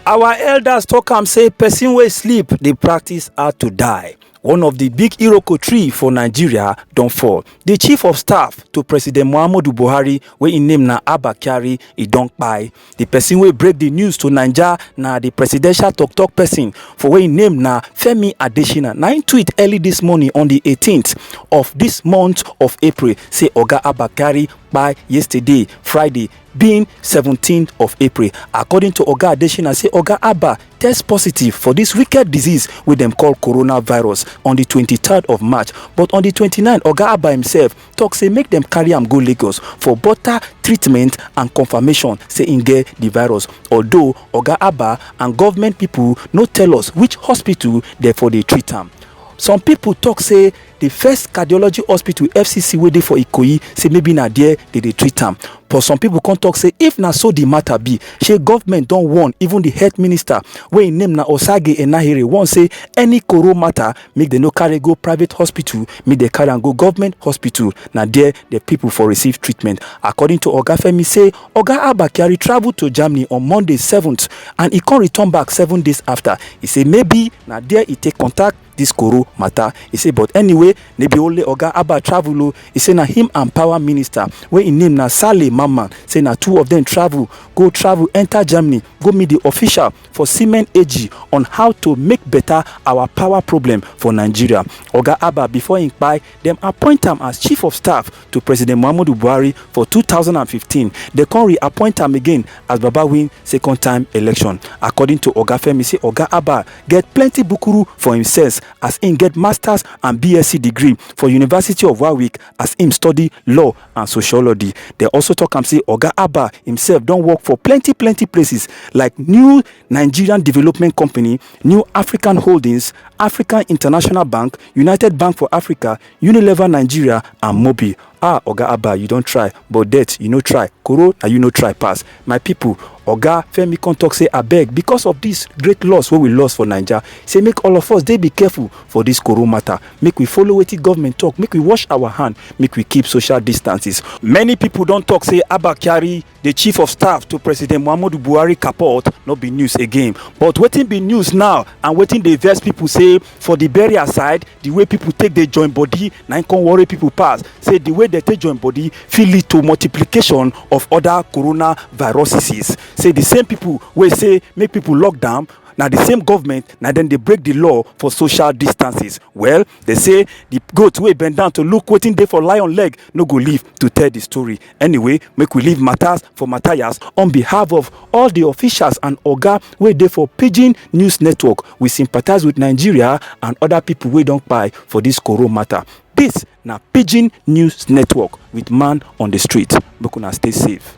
Our elders talk am say person wey sleep dey practice how to die. One of the big Iroko tree for Nigeria don fall. The chief of staff to President Muhammadu Buhari wey im name na Abba Kyari e don kpai. The person wey break the news to Naija na the presidential tok-tok person for wey im name na Femi Adesina. Na im tweet early this morning on the 18th of this month of April say Oga Abba Kyari kpai yesterday Friday being 17th of april according to oga adesina say oga abba test positive for dis wicked disease wey dem call coronavirus on di 23rd of march but on di 29 oga abba himself tok say make dem carry am go lagos for butter treatment and confirmation say im get di virus although oga abba and government pipo no tell us which hospital dem for dey treat am some pipo tok say The first cardiology hospital fcc wey dey for ikoyi say maybe na there they dey treat am but some people come talk say if na so the matter be shey government don warn even the health minister wey im name na osage enahere warn say any koro matter make dem no carry go private hospital make dem carry am go government hospital na there the people for receive treatment according to oga femi say oga abba kyari travel to germany on monday 7th and e come return back seven days after e say maybe na there e take contact dis koro mata. E say but anyway, no be only oga Abba travel o, e say na him and power minister wey im name na Saleh Mamman say na two of dem travel go travel enter Germany go meet di official for Siemens AG on how to make beta our power problem for Nigeria. Oga Abba before im kpai Dem appoint am as chief of staff to President Muhammadu Buhari for two thousand and fifteen, dem come re-appoint am again as Baba win second time election. According to Oga Femi say Oga Abba get plenty bukuru for im sense as im get masters and BSc degree for University of Warwick as im study law and sociology. Dem also talk am say Oga Abba imsef don work for plenty plenty places like New Nigerian Development Company, New African Holdings, African International Bank, united bank for africa unilever nigeria and mobil ah oga abba you don try but debt you no try koro na you no try pass my pipo oga femi come tok say abeg because of dis great loss wey we loss for naija say make all of us dey be careful for dis koro matter make we follow wetin government tok make we wash our hand make we keep social distances many pipo don tok say abba kyari di chief of staff to president muhammadu buhari kapot no be news again but wetin be news now and wetin dey vex pipo say for di burial side di way pipo take dey join body na im come worry pipo pass say di way dem take join body fit lead to multiplication of oda coronaviruses say di same pipo wey say make pipo lock down na di same government na dem dey break di law for social distances well dem say di goat wey bend down to look wetin dey for lion leg no go live to tell di story Anyway, make we leave matters for Matthias. On behalf of all the officials and Oga wey dey for Pidgin News Network, we sympathize with Nigeria and other people wey don kpai for this Koro matter. This na Pidgin News Network with man on the street. Make una stay safe.